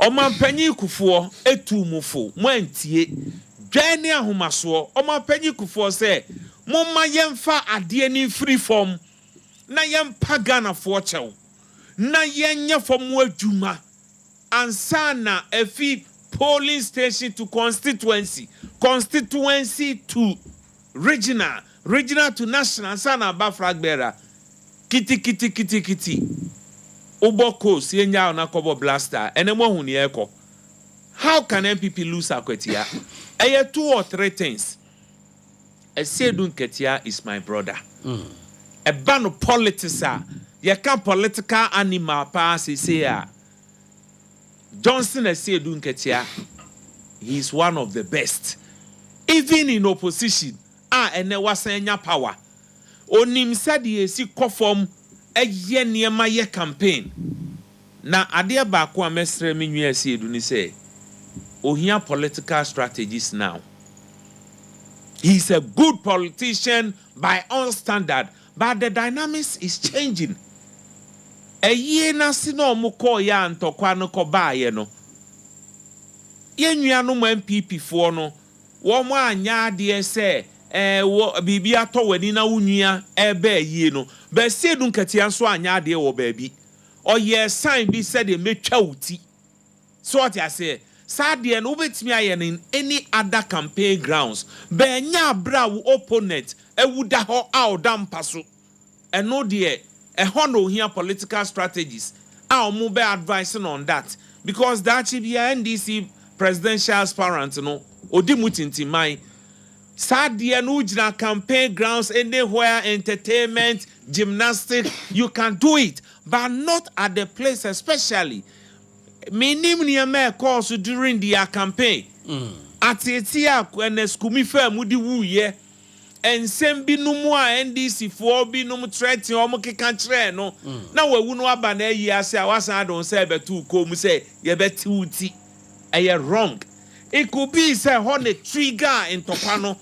Ɔmanpanyin Kufuɔ tuu mo fo, mo antie. Dwan ne ahomasoɔ. Ɔmanpanyin Kufuɔ sɛ, momma yɛmfa adeɛ no mfiri fam na yɛmpa Ghanafoɔ kyɛw na yɛnyɛ fam adwuma ansa na afi polling station to constituency, constituency to. Regina, Regina to n'ahyena ansa na aba Fragbera, Kiti-kiti-kiti-kiti, wobɔ Coast yɛnyaa wo na kɔbɔ Blaster, ɛnɛ moahu nea ɛrekɔ? How can NPP lose Akwatia? Ɛyɛ two or three things. Asiedu Nketiah is my brother. Ɛba no politics a, yɛka political animal paa seesei a, Johnson Asiedu Nketiah he is one of the best even in opposition a ɛnɛ wasan anya power onim sɛdeɛ ɛsi kɔ fam yɛ nneɛma yɛ campaign na adeɛ baako a mɛsrɛ me nua Asiedu ne sɛ ohia political strategies now he is a good politician by all standard But the dynamics is changing. Ayie no ase na ɔmo kɔɔeɛ a ntɔkwa no kɔ baaeɛ no, yɛn nuanom NPP foɔ no, wɔn anyɛ adeɛ sɛ eh, wɔ, biribi atɔ w'ani na wo nua ɛreba ayie no. Baasi Adu Nkatia nso anyɛ adeɛ wɔ baabi. Ɔyɛɛ sign bi sɛdeɛ mɛtwa wo ti. So ɔte aseɛ? Saa deɛ no wobɛtumi ayɛ no in any other campaign grounds but ɛnyɛ aberɛ a wo opponent awu da hɔ a ɔda mpa so. Ɛno deɛ ɛhɔ na ɔhia political strategies a wɔn bɛ advise no on that because daakye biara NDC presidential aspirant no ɔdi mu tintiman. Saa deɛ no wogyina campaign grounds anywhere entertainment, gymnastic you can do it but not at the place especially Minnim nneɛma a ɛkɔɔ so during their campaign, ateetee a Ernest Kumi faa mu de wuiɛ, nsɛm binom a NDC foɔ binom threaten wɔn keka kyerɛɛ no na wawu no aba no ayi ase a wasan de wo nsa rebɛto wo kɔn mu sɛ yɛbɛte wo ti. Ɛyɛ wrong. It could be sɛ ɛhɔ na trigger ntɔkwa no.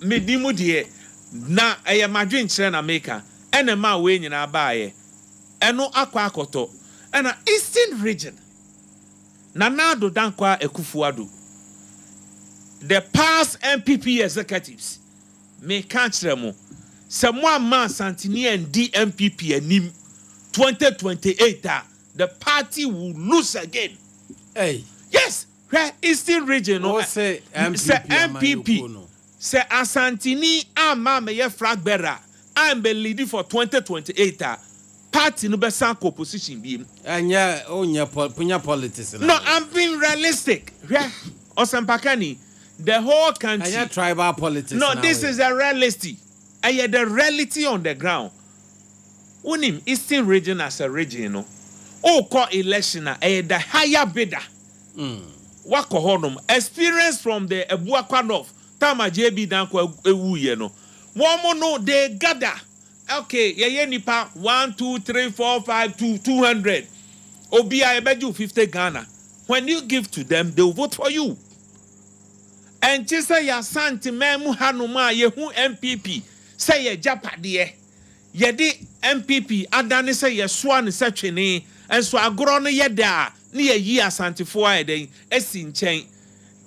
Menim deɛ na ɛyɛ m'adwenkyerɛ na meka ɛna ɛmaa wei nyinaa baeɛ. Ɛno akɔ akɔtɔ ɛna Eastern Region, Nana Addo Dankwa Akuffo Addo, the past NPP executives, meka akyerɛ mo, sɛ moamma Asanteni andi NPP anim 2028 a, the party will lose again. Ei! Yes! Hwɛ Eastern Region no sɛ NPP sɛ Asanteni amma ammɛyɛ flag bearer a ammɛ leadi for twenty twenty eight a party no bɛsan akɔ opposition biom. Ɛnyɛ onyɛ ponya politics na. No I'm being realistic hwɛ ɔsɛmpakani the whole country. Ɛnyɛ tribal politics na wei. No this is the reality ɛyɛ the reality on the ground wonim Eastern Region as a region no wokɔ election a ɛyɛ the higher bidder. Wakɔ hɔ nom experience from the Abuakwa North time a JB Danko wu yɛ no wɔn no they gather ok yɛ yɛ nipa one two three four five to two hundred obi a yɛ bɛ gye fifty Ghana when you give to them they will vote for you ɛnkye sɛ yɛ Asante man mu ha nom a yɛ hu NPP sɛ yɛ gyapadeɛ. Yɛde NPP adane sɛ yɛsoa no sɛ twene, nso agorɔ no yɛ dɛ a, ne yɛyi Asantefoɔ ayɛ dɛn? Asi nkyɛn.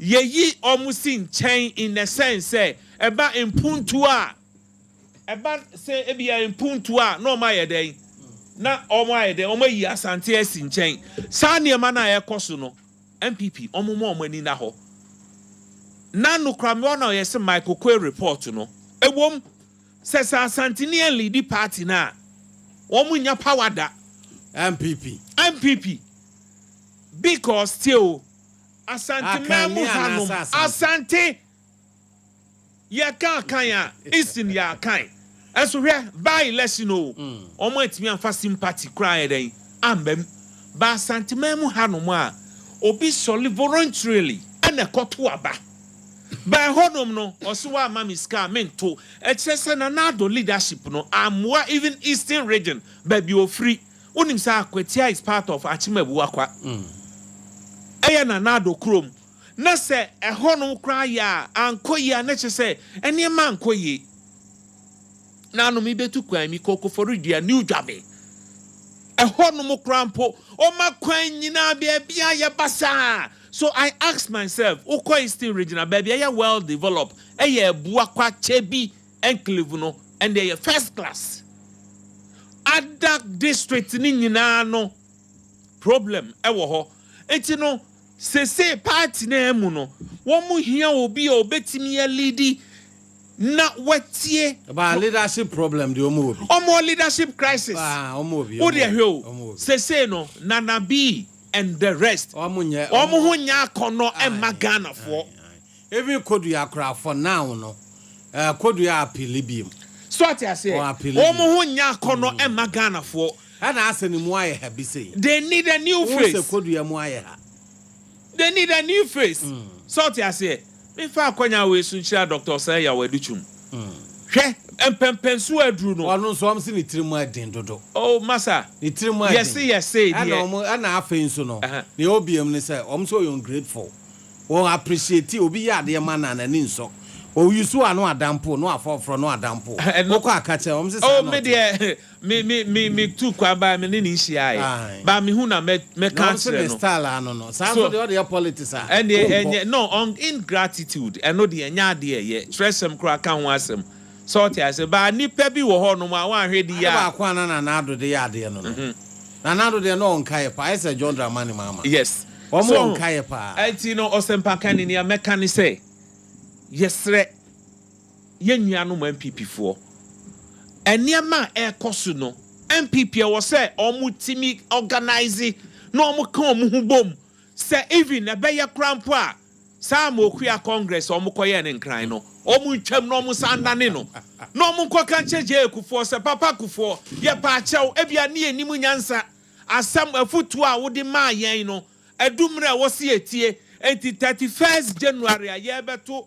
Yɛyi wɔn si nkyɛn in the sense sɛ, ɛba mpuntuo a, ɛba sɛ ebia mpuntuo a, na wɔn ayɛ dɛn? Na wɔn ayɛ dɛn? Wɔn ayi Asante asi nkyɛn. Saa nneɛma no a ɛrekɔ so no, NPP, wɔmma wɔn ani nna hɔ. Na nokorɛ mewɔ no a ɔyɛ sɛ Michael Oquaye report no, ɛwom, Sɛ sɛ Asanteni ɛnliidi party no a, wɔn nnya power da. NPP. NPP. Bcos tie o, Asante man mu ha nom, Asante, yɛ ka Akan a, Eastern yɛ Akan. Nso hwɛ, by election o, wɔn antumi amfa sympathy koraa ayɛ dɛn, amba mu. But Asante man mu ha nom a, obi sɔle voluntarily ɛna ɛkɔto aba. By hɔnom no ɔse wamma me sika a mento ɛkyerɛ sɛ na Nado leadership no ammoa even eastern region baabi ɔfiri wonim sɛ Akwatia is part of Akyemabuakwa ɛyɛ na Nado kurom na sɛ ɛhɔnom koraa yɛ a ankɔ yie a na kyerɛ sɛ nneɛma ankɔ yie na ano mebetu kwan mi kɔ Koforidua New Dwabe ɛhɔnom koraa mpo ɔma kwan nyinaa baabi a yɛba saa. So I asked myself, wokɔ Easton Region a, baabi a ɛyɛ well develop, ɛyɛ Abua Kwakye bi enclave no, ɛnde ɛyɛ first class. Adak district no nyinaa no, problem wɔ hɔ. Nti no, sesei party no a ɛmu no, wɔhia obi a obetumi aleadi na watie. Ɛbaa leadership problem deɛ wɔwɔ bi. Wɔwɔ leadership crisis. Paa, wɔwɔ bi, Wo wɔwɔ deɛ bi, hwɛ o, wɔwɔ bi. sesei no, Nana Bi and the rest wɔn ho nyɛ akɔnɔ mma Ghana foɔ. Even Kodua koraa for now no Kodua appeal biom. So ate aseɛ wɔn ho nyɛ akɔnɔ mma Ghana foɔ. Ɛna asɛ ne mu ayɛ ha bi sei. They need a new face. Wohu sɛ Kodua mu ayɛ ha. They need a new face. So ate aseɛ. Me fa akwanyaa wei so nhyira Doctor Osei Yaw Adutwum. Hwɛ! Mpɛmpɛnsoɔ aduru no. Ɔno nso wɔn se ne tiri mu aden dodo. Oh masa! Ne tiri mu aden. Yɛse yɛ sei deɛ. Ɛna wɔn, ɛna afei nso no, nea ɛwɔ biam ne sɛ, wɔn nso wɔyɛ ungrateful. Wɔn appreciate obi yɛ adeɛ ma no a n'ani nsɔ. Ɔuse wo a na wada mpo, na wafa foforɔ na wada mpo. Wokɔ a ka kyerɛ wɔn se saa na ɔte. Oh me deɛ. Me me me me tu kwan baa me ne ne nhyiae. Aye. Ba me hu na mɛ mɛ Na ka ɔnso kyerɛ ne no. style a no no. Saa So. nso deɛ ɔde yɛ politics a, Ɛnneɛ wonkɔ. ɛnyɛ no ɔn ingratitude ɛno deɛ ɛnyɛ adeɛ a ɛyɛ twerɛsɛm koraa ka ho asɛm sɛ ɔte aseɛ baa nnipa bi wɔ hɔ nom a woanhwɛ de Ade yɛ a. baako a na Nana Addo de yɛ adeɛ no no. Nana Addo deɛ na ɔnkaeɛ paa. Ayɛ sɛ John Dramani Mahama. Yes Wɔn so wɔ ɔho nkaeɛ paa. ɛnti no ɔsɛmpakani nea mɛka ne sɛ yɛsrɛ. Yɛn nuanom NPP foɔ, nneɛma a ɛrekɔ so no, NPP ɛwɔ sɛ wɔtumi organise na wɔka wɔn ho bom sɛ even ɛbɛyɛ koraa mpo a saa Amokuya Congress a wɔkɔyɛɛ no Nkran no, wɔntwam na wɔnsan nnane no na wɔnkɔka nkyerɛ JA Kufuor sɛ Papa Kufuor, yɛpɛ akyɛw, ebia ne yɛnnim nyansa, asɛm, afutuo a wode maa yɛn no, adu mmerɛ a ɛwɔ sɛ yɛtie, enti thirty first January a yɛrebɛto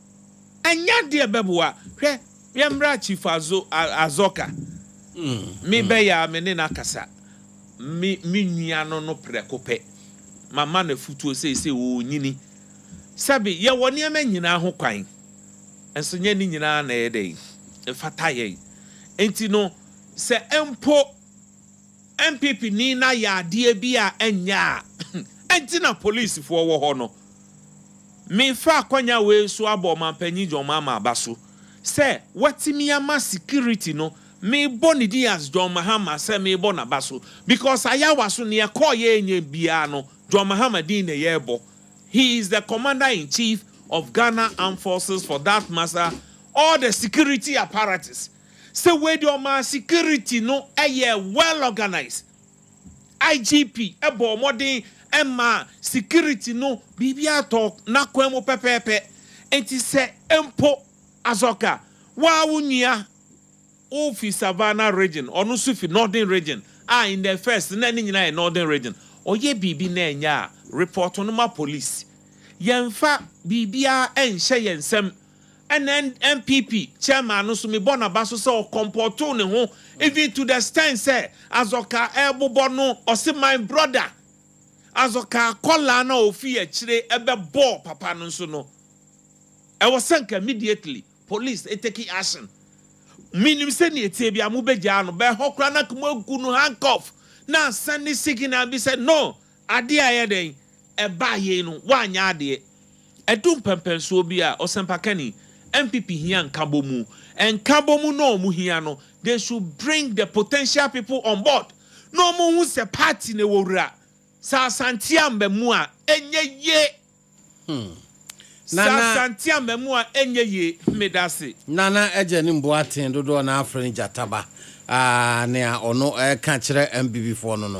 Anya deɛ bɛboa. Hwɛ, yɛmmra Chief Azo, Azoka. Me bɛyɛ a me ne no akasa. Me, me nua no no prɛko pɛ. Mama no afutuo seesei, ɔrenyini. Sɛbe, yɛwɔ nneɛma nyinaa ho kwan, nso nyɛ ne nyinaa na ɛyɛ dɛn? Ɛfata yɛn. Enti no, sɛ mpo. NPP ni na yaadeɛ bi a ɛnyɛ a ɛnti na police foɔ wɔ hɔ no. Me fa akwanya wei so abɔ ɔmanpanyin John Mahama aba so sɛ watumi ama security no me bɔ ne din as John Mahama sɛ me bɔ naba so because Ayawa so neɛ ɛkɔɔ yɛ nyɛ biara no John Mahama din na yɛ bɔ he is the commander in chief of Ghana armed forces for that master all the security apparatus sɛ wei deɛ ɔmaa security no yɛɛ well organise. IGP bɔɔ mmɔden maa security no biribiara tɔɔ n'akwan mu pɛpɛɛpɛ. Nti sɛ mpo Azɔka, wo ara wo nua, wofi Savannah region, ɔno nso fi Northern region a in the first no na ne nyinaa yɛ Northern region, ɔyɛ biribi na ɛnyɛ a, report no ma police. Yɛmfa biribiara nhyɛ yɛn nsam. NNPP chairman no so mebɔ naba so sɛ ɔkɔmpɔtoo ne ho even to the stent sɛ Azɔka ɛɛbobɔ no ɔse my brother Azɔka akɔlaa no a ɔfii akyire ɛbɛbɔɔ papa no nso no ɛwɔ sɛ nka immediately police ɛteki action menim sɛ neɛ ɛteɛ bia mobɛgyaa no but ɛhɔ koraa na nka moagu no handcuff na asɛne signal bi sɛ no Adeɛ a ɛyɛ dɛn? Ɛbaa yei no, woanyɛ adeɛ. Ɛdu mpɛnpɛnsoɔ bi a, ɔsɛmpakani, NPP hia nkabɔmu. Nkabɔmu na wɔn hia no, they should bring the potential people on board na wɔn hu sɛ party no ɛwɔ wura. Sɛ Asante ammɛ mu a, ɛnyɛ yie. Hmm. Sɛ Nana. Asante ammɛ mu a, ɛnyɛ yie. Medase. Nana agya nim boaten dodoɔ na afrɛ no gyataba. Aah nea ɔno ɛka kyerɛ NPP foɔ no no.